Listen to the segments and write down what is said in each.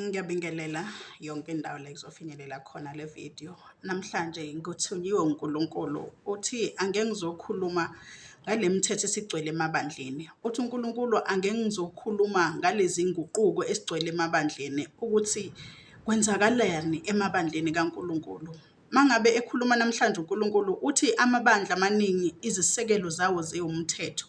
Ngiyabingelela yonke indawo la kuzofinyelela khona le video. Namhlanje ngikuthunyiwe uNkulunkulu uthi ange ngizokhuluma ngale mithetho esigcwele emabandleni. Uthi uNkulunkulu ange ngizokhuluma ngalezi nguquko esigcwele emabandleni ukuthi kwenzakalani emabandleni kaNkulunkulu. Mangabe ekhuluma namhlanje uNkulunkulu uthi amabandla amaningi izisekelo zawo ziwumthetho.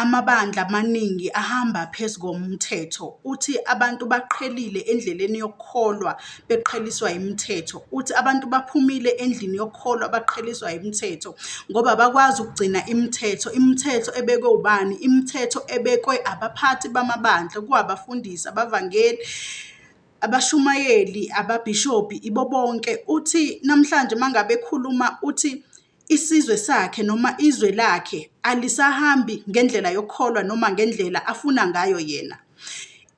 Amabandla amaningi ahamba phezu komthetho. Uthi abantu baqhelile endleleni yokukholwa beqheliswa imithetho. Uthi abantu baphumile endlini yokukholwa baqheliswa imithetho ngoba bakwazi ukugcina imithetho. Imithetho ebekwe ubani? Imithetho ebekwe abaphathi bamabandla, kuwabafundisi, abavangeli abashumayeli, ababhishobhi ibo bonke uthi namhlanje mangabe ekhuluma uthi isizwe sakhe noma izwe lakhe alisahambi ngendlela yokukholwa noma ngendlela afuna ngayo yena.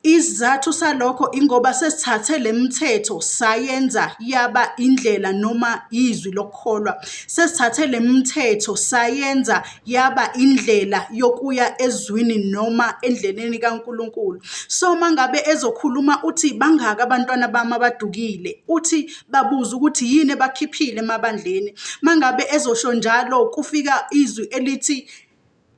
Isizathu salokho ingoba sesithathe le mithetho sayenza yaba indlela noma izwi lokukholwa. Sesithathe le mithetho sayenza yaba indlela yokuya ezwini noma endleleni kaNkulunkulu. So mangabe ezokhuluma uthi bangaka abantwana bami abadukile, uthi babuze ukuthi yini ebakhiphile emabandleni. Mangabe ezosho njalo kufika izwi elithi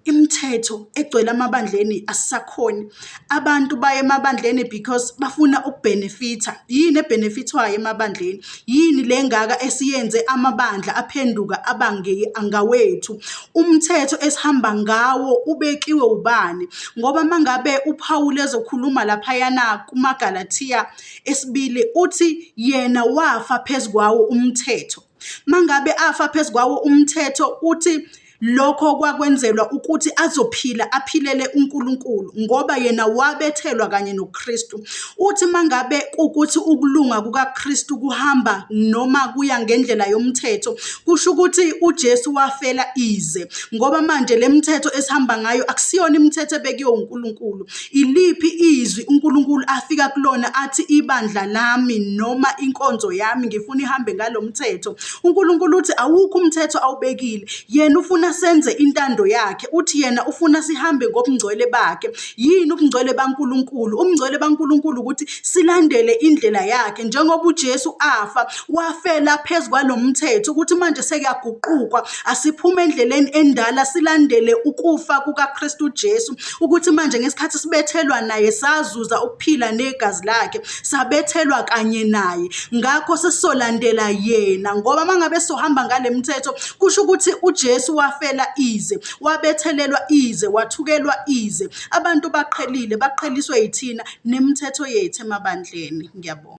imithetho egcwele amabandleni asisakhoni. abantu baye emabandleni because bafuna ukubhenefitha yini ebhenefithwayo emabandleni yini le ngaka esiyenze amabandla aphenduka abange angawethu umthetho esihamba ngawo ubekiwe ubani ngoba mangabe uPawulu ezokhuluma laphayana kumaGalathiya esibili uthi yena wafa phezukwawo umthetho Mangabe afa phezu kwawo umthetho uthi lokho kwakwenzelwa ukuthi azophila aphilele uNkulunkulu ngoba yena wabethelwa kanye noKristu. Uthi mangabe kukuthi ukulunga kukaKristu kuhamba noma kuya ngendlela yomthetho, kusho ukuthi uJesu wafela ize ngoba manje lemithetho esihamba ngayo akusiyona imithetho ebekiwe uNkulunkulu. Iliphi izwi uNkulunkulu afika kulona athi ibandla lami noma inkonzo yami ngifuna ihambe ngalo mthetho? UNkulunkulu uthi awukho umthetho awubekile. Yena ufuna senze intando yakhe. Uthi yena ufuna sihambe ngobungcwele bakhe. Yini ubungcwele baNkulunkulu? Ubungcwele baNkulunkulu ukuthi silandele indlela yakhe njengoba uJesu afa wafela phezu kwalo mthetho ukuthi manje sekuyaguqukwa asiphume endleleni endala silandele ukufa kukaKristu Jesu ukuthi manje ngesikhathi sibethelwa naye sazuza ukuphila negazi lakhe sabethelwa kanye naye ngakho sesizolandela yena ngoba mangabe sohamba ngale mthetho kusho ukuthi uJesu wafela ize wabethelelwa ize wathukelwa ize abantu baqhelile baqheliswe yithina nemithetho yethu emabandleni ngiyabonga